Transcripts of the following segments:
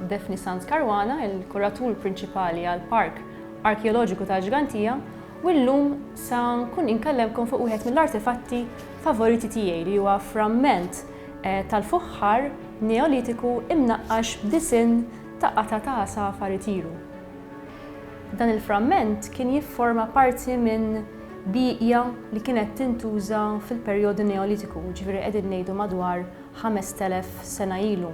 Defni Sanz Karwana, il-kuratur prinċipali għal Park Arkeoloġiku ta' Ġgantija, u llum sa nkun inkellemkom fuq wieħed mill-artefatti favoriti tiegħi li huwa framment tal-fuħħar Neolitiku imnaqqax b'disinn ta' qatgħa ta' għasafar itiru. Dan il-framment kien jifforma parti minn bieqja li kienet tintuża fil-perjodu Neolitiku, jiġifieri qegħdin ngħidu madwar 5,000 sena ilu.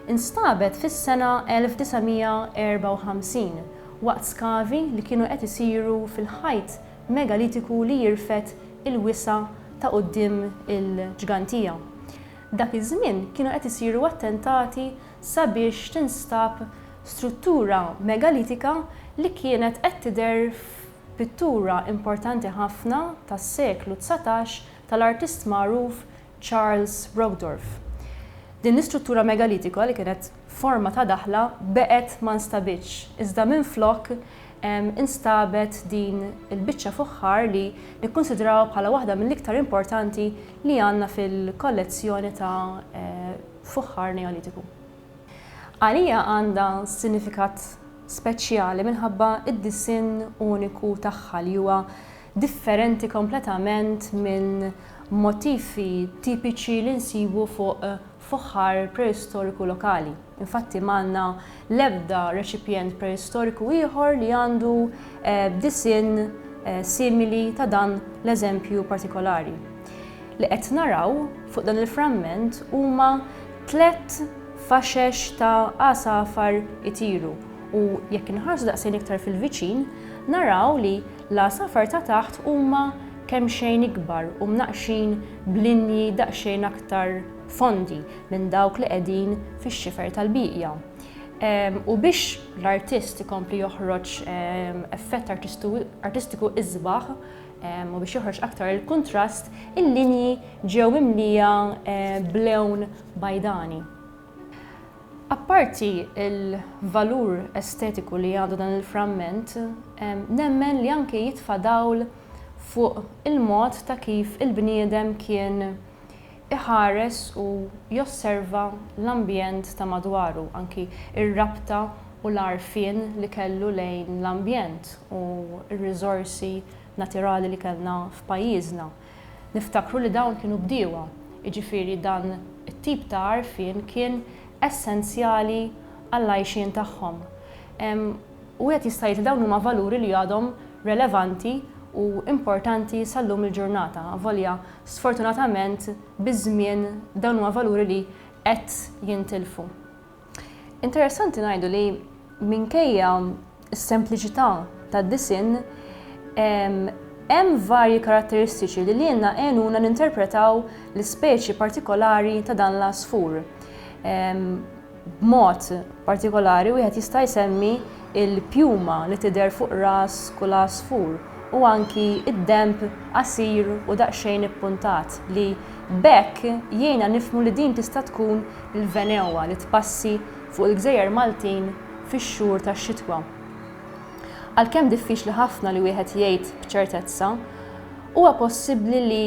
Instabet fis-sena 1954 waqt skavi li kienu qed isiru fil-ħajt megalitiku li jirfed il-wisa' ta' quddiem il-ġgantija. Dak iż-żmien kienu qed isiru attentati sabiex tinstab struttura megalitika li kienet qed tidher f'pittura importanti ħafna tas-seklu dsatax tal-artist magħruf Charles Brockdorff. Din l-istruttura megalitika li kienet forma ta' daħla beqgħet ma nstabitx, iżda minflok instabet din il-biċċa fuħħar li nikkunsidrawha bħala waħda mill-iktar importanti li għandna fil-kollezzjoni ta' fuħħar Neolitiku. Għalija għandha sinifikat speċjali minħabba d-disinn uniku tagħha li huwa differenti kompletament minn motifi tipiċi li nsibu fuq fuħħar preistoriku lokali. Infatti ma għandna l-ebda reċipjent preistoriku ieħor li għandu disinn simili ta' dan l-eżempju partikolari. Li qed naraw fuq dan il-framment huma tliet faxex ta' għasafar itiru u jekk inħarsu daqsxejn iktar fil-viċin naraw li L-għasafar ta' taħt huma kemxejn ikbar u mnaqqxin b'linji daqsxejn aktar fondi minn dawk li qegħdin fix-xifer tal-bieqja. U biex l-artist ikompli joħroġ effett artistiku isbaħ u biex joħroġ aktar il-kuntrast, il-linji ġew mimlija b'lewn bajdani. Apparti l-valur estetiku li għandu dan il-framment, nemmen li anke jitfa' dawl fuq il-mod ta' kif il-bniedem kien iħares u josserva l-ambjent ta' madwaru, anki r-rabta u l-għarfien li kellu lejn l-ambjent u r-riżorsi natirali li kellna f'pajjiżna. Niftakru li dawn kienu bdiewa, jiġifieri dan it-tip ta' għarfien kien essenzjali għall-għajxien tagħhom. U wieħed jista' jgħid li dawn huma valuri li għadhom relevanti u importanti sal-lum il-ġurnata, avolja sfortunatament biż-żmien dawn huma valuri li qed jintilfu. Interessanti ngħidu li minkejja s-sempliċità tad-disinn, hemm varji karatteristiċi li lilna għenuna ninterpretaw l-ispeċi partikolari ta' dan l-għasfur. B'mod partikolari wieħed jista' jsemmi l-pjuma li tidher fuq ras kull għasfur u anki d-denb qasir u daqsxejn ippuntat li b'hekk jgħinna nifhmu li din tista' tkun l-venewwa li tpassi fuq il-gżejjer Maltin fix-xhur tax-xitwa. Għalkemm diffiċli ħafna li wieħed jgħid b'ċertezza, huwa possibbli li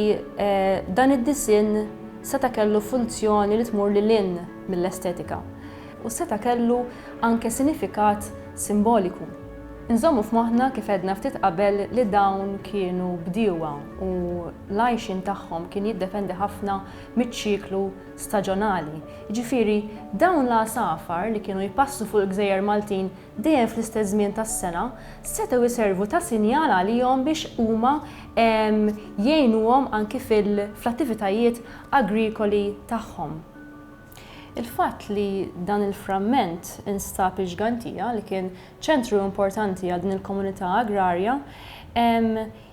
dan id-disinn seta' kellu funzjoni li tmur lil hinn mill-estetika u seta' kellu anke sinifikat simboliku. Inżommu f'moħħna kif għedna ftit qabel li dawn kienu bdiewa u l-għajxien tagħhom kien jiddependi ħafna miċ-ċiklu staġonali, jiġifieri dawn l-għasafar li kienu jpassu fuq il-gżejjer Maltin dejjem fl-istess żmien tas-sena, setgħu jservu ta' sinjal għalihom biex huma jgħinuhom anki fl-attivitajiet agrikoli tagħhom. Il-fatt li dan il-framment instab iġgantia, li kien ċentru importanti għal din il-komunità agrarja,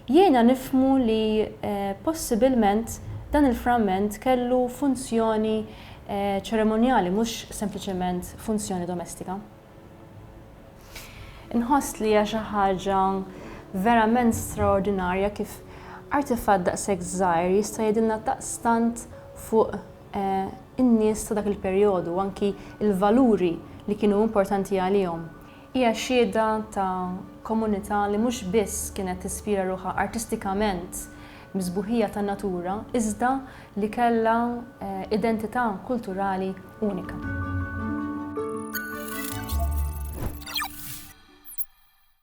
Jiena nifhmu li possibilment dan il-framment kellu funzjoni ċeremonjali mhux sempliċement funzjoni domestika. Inħoss li hija xi ħaġa verament straordinarja kif artifatt daqshekk żgħir jista' jgħidilna daqstant fuq in-nies ta' dak il-perjodu u anki l-valuri li kienu importanti għalihom. Hija xhieda ta' komunità li mhux biss kienet tispira ruħha artistikament bis-sbuħija tan-natura iżda li kellha identità kulturali unika.